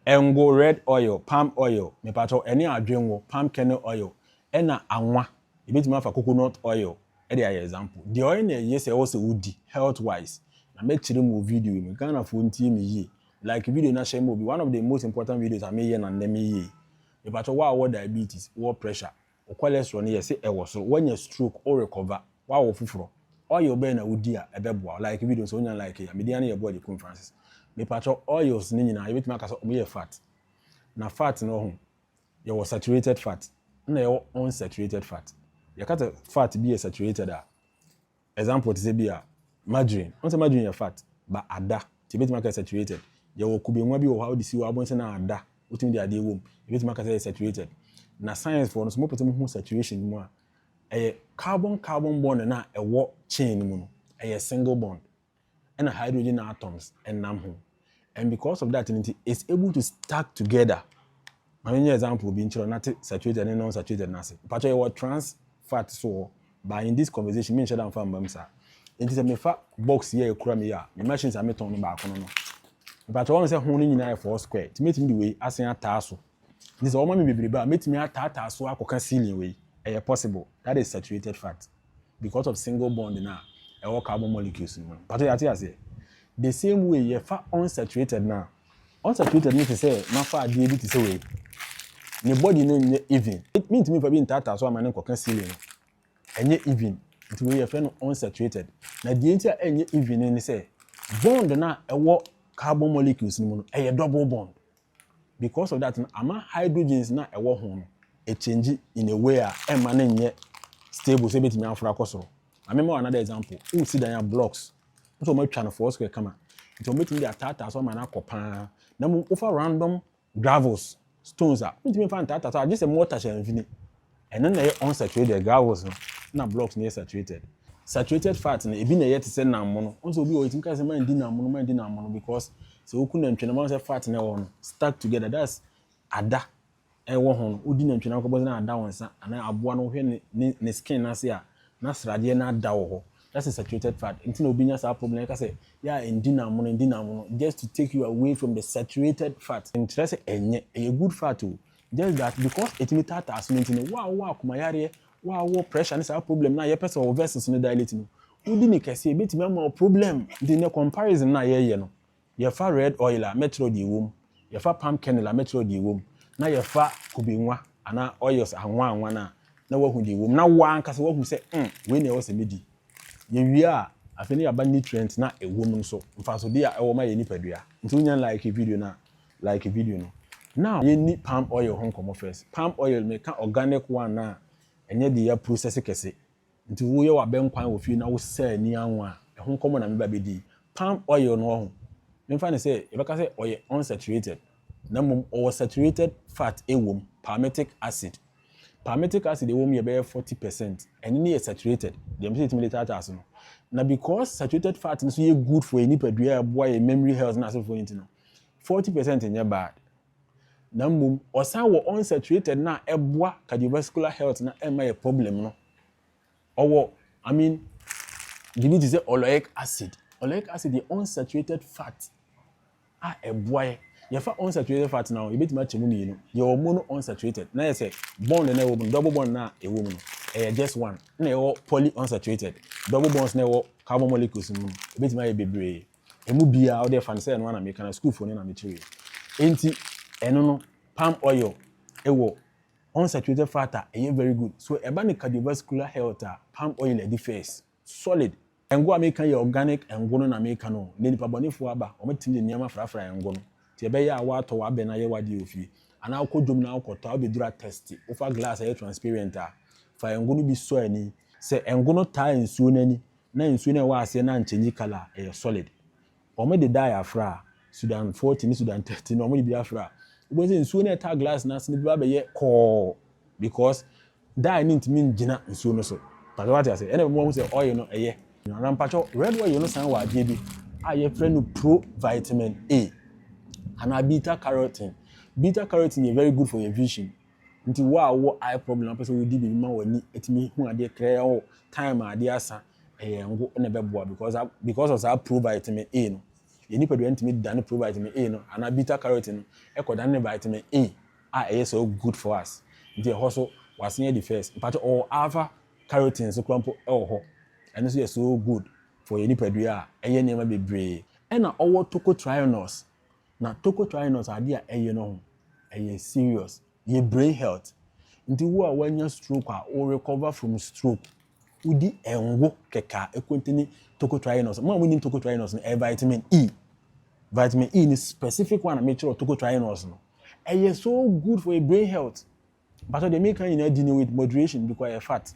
Ngo, red oil, palm oil, mepakyɛw, ɛne adwengo, palm kernel oil, ɛna anwa, yɛbɛtumi afa coconut oil de ayɛ example. Deɛ ɔyɛ na ɛye sɛ ɛwɔ sɛ wodi, health wise, na mɛkyerɛ mu wɔ video yi mu. Ghanafoɔ ntie me yie, like video na share ma obi, one of the most important videos a meyɛ na nnɛ meyɛ yi. Mepakyɛw, wo a wowɔ diabetes, wowɔ pressure, Wo cholesterol no yɛ se ɛwɔ soro, wanya stroke, wo rekɔva, woawɔ foforɔ, oil bɛn na wodi a ɛbɛboa wo? Like video no sɛ wonya like yi a. Me din ara ne yɛ Boy Agyekun Francis. Mepakyɛw, oils no nyinaa yɛbɛtumi aka sɛ wɔyɛ fat. Na fat no ho, yɛwɔ saturated fat, ɛna yɛwɔ unsaturated fat. Yɛka sɛ fat bi yɛ saturated a, Example, te sɛ bi a, margarine. Wohu sɛ margarine yɛ fat, but ada, nti yɛbɛtumi aka saturated. Yɛwɔ kube nwa bi wɔ hɔ a, wode si hɔ a, wobɛhu sɛ na ada, wotumi de adeɛ wom, yɛbɛtumi aka sɛ ɛyɛ saturated. Na science foɔ no nso, mopɛ sɛ mohu saturation no mu a, ɛyɛ carbon-carbon bond no a ɛwɔ chain no mu no, ɛyɛ single bond. ɛna hydrogen atoms ɛnam ho and because of that nti it's able to stack together ma menyɛ example bi nkyerɛ nate saturated ne non saturated no ase mpakyɛ yɛwɔ trans fat so wɔ but in this conversation menhyɛ da mfa mma mu saa nti sɛ mefa box yɛ ɛkura me yɛ a me machines a metɔn no baako no no mpakyɛ wɔn sɛ ho no nyinaa yɛ four square nti metumi de wei asen ataa so Nti sɛ wɔma me bebrebe a, mɛtumi ataataa so akɔka ceiling wei? Ɛyɛ possible. That is saturated fat because of single bond no a ɛwɔ carbon molecules no mu no. Mpakyɛ yɛate aseɛ? The same way yɛfa unsaturated no a, unsaturated no te sɛ mafa adeɛ bi te sɛ wei. Ne body no nyɛ even. Mentumi mfa bi ntaataa so ama no nkɔka ceiling no. Ɛnyɛ even. Nti wei yɛfrɛ no unsaturated. Na deɛ nti a ɛnyɛ even no ne sɛ bond no a ɛwɔ carbon molecules no mu no, ɛyɛ double bond. Because of that no ama hydrogens no a ɛwɔ ho no ɛchange in a way a ɛmma no nyɛ stable sɛ ɛbɛtumi aforo akɔ soro. Ma memma wo another example. Wosi dan a blocks wosɛ wɔatwa no four square kama nti wɔbɛtumi de ataataa so ama no akɔ paa na mmom wofa random gravels, stones a wontumi mfa ntaataa so agye sɛ mortar hyɛ mfini. Ɛno na ɛyɛ unsaturated gravels no na blocks no yɛ saturated. Saturated fat no ebi na ɛyɛ te sɛ nammono. Wohu sɛ obi wɔ hɔ yɛtumi ka sɛ mandi nammono mandi nammono because sɛ woku nantwi nam a wohu sɛ fat na ɛwɔ hɔ no stuck together that's ada ɛwɔ ho no wodi nantwi nam kɔbɔ sɛ na ada wo nsa anaa aboa no wohwɛ ne ne ne skin no ase a na sradeɛ no ada wɔ hɔ that's a saturated fat nti na obi nya saa problem ɛka sɛ yɛ a ndi nammono ndi nammono just to take you away from the saturated fat nkyerɛ sɛ ɛnyɛ ɛyɛ good fat o Just that because ɛtumi taataa asono nti no, wo a wowɔ akoma yareɛ, wo a wowɔ pressure ne saa problem no a yɛpɛ sɛ wo vessels no dilate no, wodi no kɛse a ɛbɛtumi ama wo problem. Nti nnɛ comparison no a yɛyɛ no, yɛfa red oil a mɛkyerɛw deɛ ɛwɔ mu, yɛfa palm kernel a mɛkyerɛw deɛ ɛwɔ mu, na yɛfa kube nwa anaa oils anwa anwa no a na woahu deɛ ɛwɔ mu na wo ara ankasa woahu sɛ mm wei na ɛwɔ sɛ medi. Yɛwie a, afei na yɛaba nutrients no a ɛwɔ mu no so, mfasodeɛ a ɛwɔ ma yɛn nipadua. Nti wonya like video no a, Like video no na yɛnni palm oil ho nkɔmmɔ first. Palm oil, meka organic one a ɛnyɛ deɛ yɛaprosɛse kɛse. Nti woyɛ w'abɛnkwan wɔ fie na wosɛ ani anwa a, ɛho nkɔmmɔ na meba bɛdi yi. Palm oil no ɔho, memfa no sɛ yɛbɛka sɛ ɔyɛ unsaturated na mmom ɔwɔ saturated fat wom, palmitic acid. Palmitic acid a ɛwom yɛ bɛyɛ forty percent. Ɛno ne yɛ saturated, deɛ mepɛ sɛ yɛtumi de taataa so no. Na because saturated fat no nso yɛ good for yɛn nipadua a ɛboa yɛn memory health ne asefoɔ no nti no, Forty percent nyɛ bad na mmom ɔsan wɔ unsaturated no a ɛboa cardiovascular health na ɛmma yɛ problem no ɔwɔ I mean biribi te sɛ oleic acid oleic acid yɛ unsaturated fat a ɛboa yɛ yɛfa unsaturated fat na yɛbɛtumi akyɛ mu mmienu yɛwɔ mono unsaturated na yɛ sɛ bond na ɛwɔ mu no double bond na ɛwɔ mu no ɛyɛ just one na ɛwɔ poly unsaturated double bonds na ɛwɔ carbon molecules mu no ɛbɛtumi ayɛ bebree Emu biara, wo deɛ fa no sɛ ɛno ara na meka na sukuufoɔ no na mekyerɛɛ. Enti, ɛno no, palm oil wɔ unsaturated fat a ɛyɛ very good. So ɛba no cardiovascular health a, palm oil adi first, solid. Ngo a meka yi yɛ organic ngo no na meka no o, nnɛ nnipa bɔnefoɔ aba, wɔatumi de nneɛma afrafra ngo no. Nti ɛbɛyɛ a woatɔ w'abɛ no ayɛ w'adeɛ wɔ fie, anaa wokɔ dwom na wokɔtɔ a, wobɛduru atɛste, wofa glass a ɛyɛ transparent a, fa ngo no bi sɔ ani. Sɛ ngo no taa nsuo no ani na nsuo no a ɛwɔ aseɛ no anchange colour, ɛyɛ solid. Wɔn de dye afra, Sudan 40 ne Sudan 30 no wɔn de bi afra. Wobɛhu sɛ nsuo no a ɛtaa glass no ase no bɛba abɛyɛ kɔɔ because dye no ntumi ngyina nsuo no so. Mpakyɛ wate ase? Ɛna ɛbɛma wahu sɛ oil no ɛyɛ. Na mpakyɛ red oil no san wɔ adeɛ bi a yɛfrɛ no provitamin A anaa beta carotene. Beta carotene yɛ very good for your vision. Nti wo a wowɔ eye problem na wopɛ sɛ wodi biribi ma w'ani atumi hu adeɛ krɛɛ o, time a adeɛ asa, ɛyɛ ngo na ɛbɛboa because a because of saa provitamin A no. Yɛn nipadua no tumi dane provitamin A no anaa beta carotene no ɛkɔdane ne vitamin A a ɛyɛ so good for us. Nti ɛhɔ so w'asen adi first. Mpakyɛ ɔwɔ alpha carotene nso koraa mpo ɛwɔ hɔ. Ɛno nso yɛ so good for yɛn nipadua a ɛyɛ nneɛma bebree. Ɛna ɔwɔ tocotrienols. Na tocotrienols ade a ɛyɛ no ho ɛyɛ serious yɛ brain health nti wo a wanya stroke a wo recover from stroke wo di ngo kɛkɛ a ɛcontaini tocotrienols mo a mo nim tocotrienols no ɛyɛ vitamin E vitamin E no specific one a me kyerɛ wo tocotrienols no ɛyɛ so good for yɛ brain health Mpakyɛw deɛ meka nyinaa di no with moderation because ɛyɛ fat.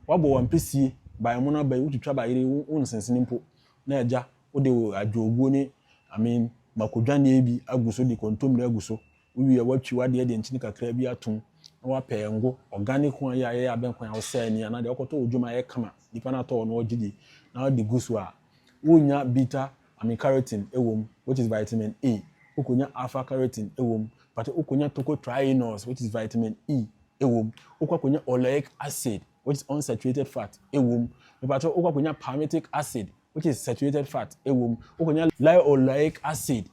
Wabɔ wo ampesie by mono aba yi wotwitwa ba yere wo nsensene mpo na agya wode wo adwoɔguo ne I mean mako dwaneɛ bi agu so de kontommire agu so wowie watwi wadeɛ de nkyene kakra bi atom na wapɛ ngo organic one yi a yɛyɛ abɛnkwan a wosɛɛ ani anaa deɛ wokɔtɔ wɔ dwom a ɛyɛ kama nipa no atɔ wɔ no ɔgye di na wode gu so a wonnya bitter Amycretin wom, which is vitamin A, wokonya alpha-carotene wom, but wokonya tocotrienols, which is vitamin E, wom, wokɔ akonya oleic acid, which is unsaturated fat, wom, mepakyɛw, wokɔ akonya palmitic acid, which is saturated fat, wom, wokonya linoleic acid,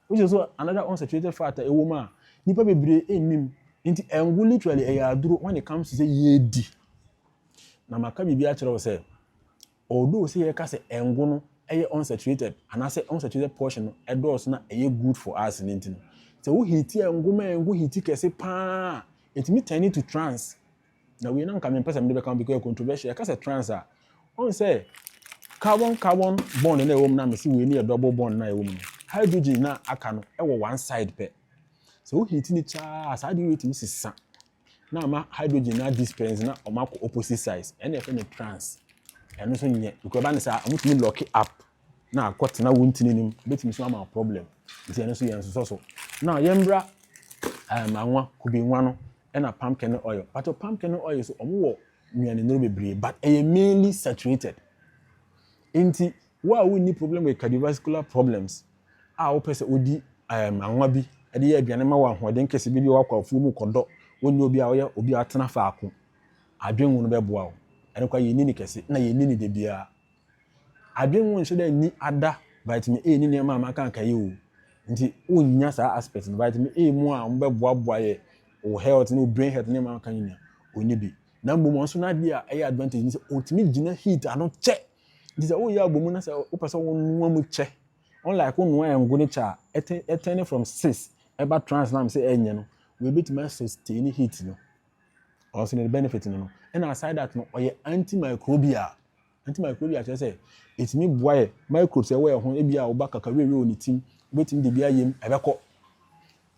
which is also another unsaturated fat a ɛwom a nnipa bebree nnim. Enti ngo literally ɛyɛ aduro when it comes to sɛ yɛredi. Na maka biribi akyerɛ wo sɛ, Although sɛ yɛka sɛ ngo no yɛ unsaturated anaasɛ unsaturated portion no dɔɔso na ɛyɛ good for us no nti no, sɛ wo heati ngo ma ngo heati kɛse pa ara a, ɛtumi turn into trans. Na wei na anka mempɛ sɛ mede bɛka ho because ɛyɛ controversial. Yɛka sɛ trans a, woahu sɛ carbon carbon bond no a ɛwɔ mu no a mese wei no yɛ double bond no a ɛwɔ mu no, hydrogens no a aka no wɔ one side pɛ. Sɛ wo heati no kyɛre a, saa adeɛ wei tumi sesa. na ama hydrogen no adi spɛns na wɔn akɔ opposite sides ɛna yɛfrɛ no trans ɛno nso nyɛ because ɛba ne saa wɔn tumi lock up na akɔ tena wɔn ntini nim ebetumi nso ama problem nti ɛno nso yɛn nsosɔ so na yɛn bra ɛɛm eh, anwa kubi nwa no ɛna palm kernel oil but palm kernel oil so wɔn wɔ nnuane nnuro bebree but ɛyɛ mainly saturated nti wo a wonni problem with cardiovascular problems. a wopɛ sɛ wodi anwa bi de yɛ aduane ma wo ahoɔden kɛse bi de wakɔ afuw mu kɔdɔ wo ne obi a ɔyɛ obi a watena faako adwenwu no bɛboa wo. Ɛno koraa yenni no kɛse na yenni no da biara. Adwenwu nhyɛ da nni ada vitamin A ne nneɛma a makaka yi o. Nti wunnya saa aspect no. Vitamin A mu a wɔbɛboaboa yɛ wo health ne wo brain health ne nneɛma a makaka nyinaa, onni bi. Na mmom ɔno nso n'ade a ɛyɛ advantage ne sɛ otumi gyina heat ano kyɛ. Nti sɛ woyɛ abɔmu na sɛ wopɛ sɛ wonoa mu kyɛ, unlike wonoa ngo no kyɛ a, ɛte ɛtɛne from cis ɛba trans na mesɛ ɛnyɛ no, wei bɛtumi asustaini heat no, ɔwɔ sɛ ne benefit no no. Ɛna aside that no, ɔyɛ antimicrobial. Antimicrobial kyerɛ sɛ ɛtumi boa yɛ microbes ɛwɔ yɛ ho, ebi a woba kakawiawie wɔ ne tim, wobɛtumi de bi ayɛ mu, ɛbɛkɔ.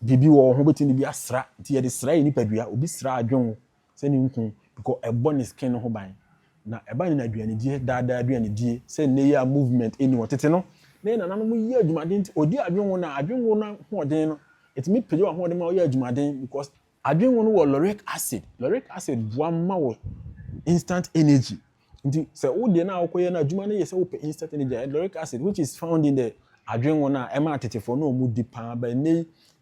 Biribi wɔ wo ho, wobɛtumi de bi asra, nti yɛde sra yɛ nipadua, obi sra adwen wo, sɛ ne nkuu because ɛbɔ ne skin no ho ban na ɛba no na aduanedie daa daa aduanedie sɛ nnɛ yi a movement nni hɔ tete no na yɛn nananom yɛ adwumaden nti ɔdi adwenwono a adwenwono no ahoɔden no ɛtumi pagya w'ahoɔden ma woyɛ adwumaden because adwenwono wɔ lauric acid lauric acid boa ma wo instant energy nti sɛ wo deɛ no a wokɔyɛ no adwuma no yɛ sɛ wopɛ instant energy a lauric acid which is found in the adwenwono a ɛma atetefoɔ no a wɔdi paa bɛ nnɛ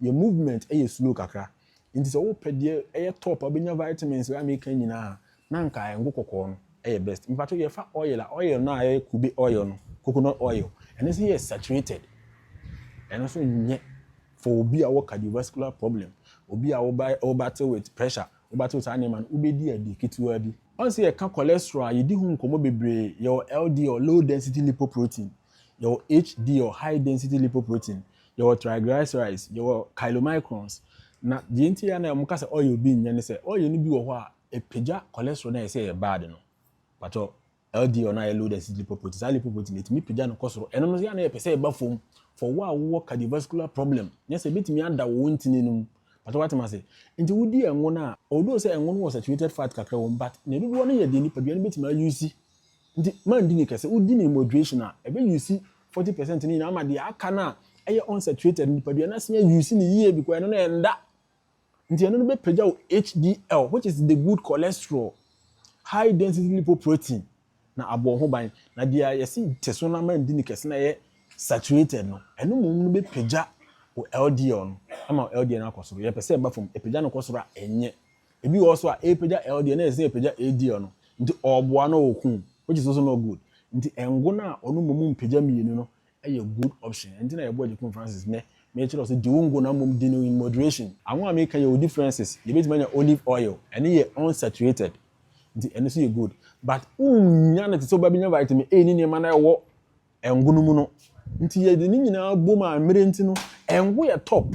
yi yɛ movement yɛ slow kakra Nti sɛ wopɛ deɛ ɛyɛ top a wobɛnya vitamins a meka nyinaa a, na anka ngo kɔkɔɔ no yɛ best. Mpakyɛw yɛfa oil a, oil no a ɛyɛ kube oil no, coconut oil, ɛno nso yɛ saturated. Ɛno nso nyɛ for obi a ɔwɔ cardiovascular problem, obi a wo wo battle with pressure, wo battle saa nneɛma no, wobɛdi ade ketewaa bi. Once yɛka cholesterol a, yɛdi ho nkɔmmɔ bebree. Yɛwɔ LDL, low density lipoprotein. Yɛwɔ HDL, High Density Lipoprotein, yɛwɔ triglycerides, yɛwɔ chylomicrons. Na deɛ nti a na wɔka sɛ oil bi nyɛ ne sɛ, oil no bi wɔ hɔ a, ɛpagya cholesterol no a yɛse ɛyɛ bad no. Mpakyɛw, LDL no a ɛyɛ Low Density Lipoprotein, saa lipoprotein no, ɛtumi pagya no kɔ soro. Ɛno no nso yɛ a na yɛpɛ sɛ ɛba fam for wo a wowɔ cardiovascular problem, nyɛ sɛ ɛbɛtumi ada wo ntini no mu. Mpakyɛw woate me ase? Nti wodi ɛngo no a, although sɛ ɛngo no wɔ saturated fat kakra wɔ mu, but ne dodoɔ no yɛ deɛ nipadua no bɛtumi ayuusi Nti mandi no kɛse. Wodi no moderation a, ɛbɛ use forty percent no nyinaa ama deɛ aka no a ɛyɛ unsaturated no, nipadua no asene use no yie because ɛno no ɛnda. Nti ɛno no bɛpagya wo HDL which is the good cholesterol, high density lipoprotein, na abɔ wo ho ban. Na deɛ yɛse te so na mandi no kɛse na ɛyɛ saturated no, ɛno mmom no bɛpagya wo LDL no ama wo LDL no akɔ soro. Yɛpɛ sɛ ɛba fam. Ɛpagya no kɔ soro a, ɛnyɛ. Ebi wɔ hɔ so a epagya LDL na ɛsɛ sɛ epagya HDL no, nti ɔboa na ɔko, which is also not good. Nti ngo no a ɔno mmom mpagya mmienu no yɛ good option. Ɛno nti na yɛboa Agyekum Francis nnɛ, mekyerɛ wo sɛ di wo ngo na mmom di no in moderation. Ango a meka yi yɛwɔ differences, yɛbɛtumi anya olive oil, ɛno yɛ unsaturated, nti ɛno nso yɛ good. But wonnya no te sɛ wobɛnya vitamin A ne nneɛma no a ɛwɔ Ngo no mu no. Nti yɛde ne nyinaa bom a mmerɛ nti no, ngo yɛ top.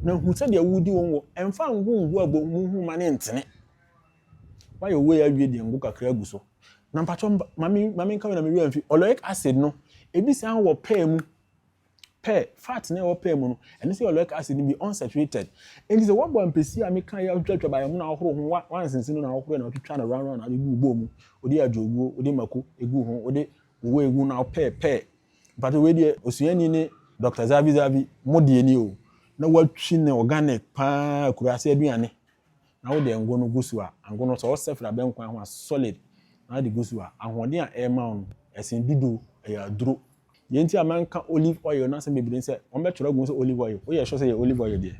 Na hu sɛdeɛ wodi wo ngo. Mfa ngo ngu abonmu ho ma no ntene. Woayɛ wei awie deɛ ngo kakra gu so. Na mpakyɛw ma me ma menka wei na me werɛ amfi. Ɔloic acid no, ebi san wɔ pɛɛ mu. Pɛɛ, fat no a ɛwɔ pɛɛ mu no, ɛno nso yɛ ɔloic acid no bi, unsaturated. Nti sɛ woabɔ ampesie a meka yi atwitwatwa baeɛ mu na wohoro ho, woansensen mu na wohoro na wotwitwa no round round na wode gu wo bowl mu, wode adwoguo, wode mako gu ho, wode Wo wei gu no awo pɛɛ pɛɛ. Mpakyɛ wei deɛ osuani ne Doctor Zavi Zavi mo deɛ ni o na watwi no organic paa akuraase aduane na wo deɛ ngo no gu so a ango no sɛ wo sɛ fra bɛnko aho a solid na wode gu so a ahoɔden a ɛrema wo no ɛsen dudu ɛyɛ aduro deɛ nti a manka olive oil no asɛm bebree sɛ wɔn bɛtwerɛ agu sɛ olive oil woyɛ sure sɛ yɛ olive oil deɛ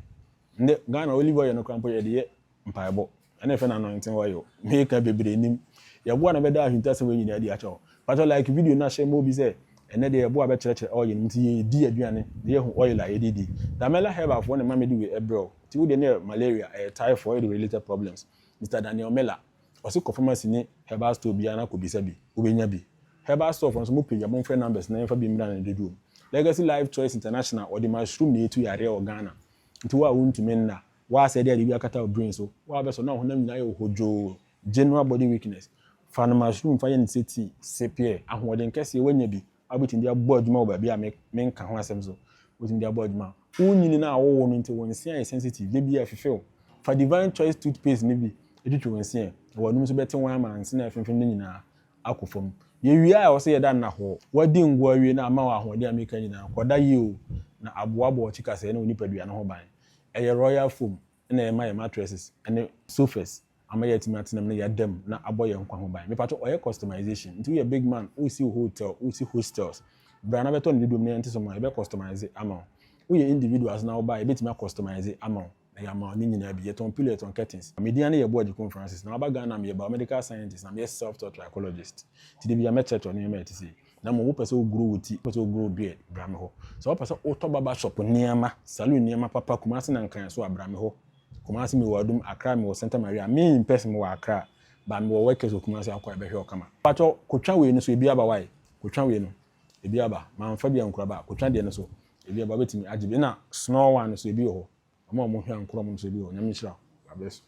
ndɛ Ghana olive oil no koraa mpo yɛde yɛ mpaebɔ Ɛna ɛfɛ no anointing oil meka bebree nim yɛboa na bɛda ahintasɛm wei nyinaa adi akyɛ hɔ patɔ like video na hyɛ ma obi sɛ ɛnɛ deɛ yɛboa bɛkyerɛkyerɛ oil nom nti yɛdi aduane na yɛhu oil a yɛde di Damela herbal foɔ ne ma mede wei ɛbrɛ wo nti wo deɛ ne yɛ malaria ɛyɛ typhoid related problems Mister Daniel Miller ɔse kɔ pharmacy ne herbal store biara na kɔ bisa bi wobɛnya bi herbal store foɔ nso mo page a mo mfrɛ numbers na yɛmfa bi mmra ne dodoɔ mu Legacy Life Choice International ɔde mushroom na ɛtu yareɛ wɔ Ghana nti wo a wontumi nna Woa sɛ dɛ biribi akata wo brain so, woa bɛ sɔ na wo honam nyina ayɛ wo hodwoo, general body weakness, fa no mushroom fa yɛ no sɛ tea, sip yɛ, ahoɔden kɛseɛ woanya bi a wobɛtumi de abɔ adwuma wɔ baabi a me menka ho asɛm so, wobɛtumi de abɔ adwuma. Wo nyini no a wo wo no nti wo nse ayɛ sensitive, da biara fifi wo, fa Divine Choice toothpaste no bi twitwi wo nse ɛ, na w'anum nso bɛte wo ama nse no a ɛfemfem no nyinaa akɔ fam. Yɛ wie a ɛwɔ sɛ yɛda nna hɔ. Woadi ngo awie na ama wo ahoɔden a meka nyinaa, kɔda yie o, na aboaboa wo tikasɛɛ ne wo nipadua no ho ban. Ɛyɛ royal foam na ɛma yɛn mattresses ne sofas ama yɛatumi atena mu na yɛada mu na abɔ yɛn nkwa ho ban. Mepatwɔ ɔyɛ customization nti woyɛ big man wosi wo hotel wosi hostels bra na bɛtɔ ne dodoɔ mu na yɛnte so mma wo yɛbɛ customise ama wo woyɛ individuals na woba a yɛbɛtumi a customise ama wo na yɛama wo ne nyinaa bi yɛtɔn pillow yɛtɔn curtains. Me din ane yɛ Boa Gyekun Francis na maba Ghana a meyɛ biomedical scientist na meyɛ self taught trichologist nti da biara mɛkyerɛkyerɛ wo nneɛma a ɛte sei. Na mmom wopɛ sɛ wogoro wo ti, wopɛ sɛ wogoro wo beard, bra me hɔ. Sɛ wopɛ sɛ wotɔ barber shop nneɛma, saloon nneɛma papa Kumasi na Nkran nso a, bra me hɔ. Kumasi mewɔ Adum, Accra mewɔ Santa Maria, me in person mewɔ Accra, but mewɔ workers wɔ Kumasi a wokɔ a yɛbɛhwɛ wo kama. Mpakyɛ kotwa wei no so ebi aba wai? Kotwa wei no ebi aba, manfa bi ankura ba a, kotwa deɛ no so ebi aba, wobɛtumi agye bi. Ɛna snore one no so ebi wɔ hɔ, wɔn a wɔhwɛ ankorɔm no so ebi wɔ hɔ, Nyame nhyira wo, God bless you.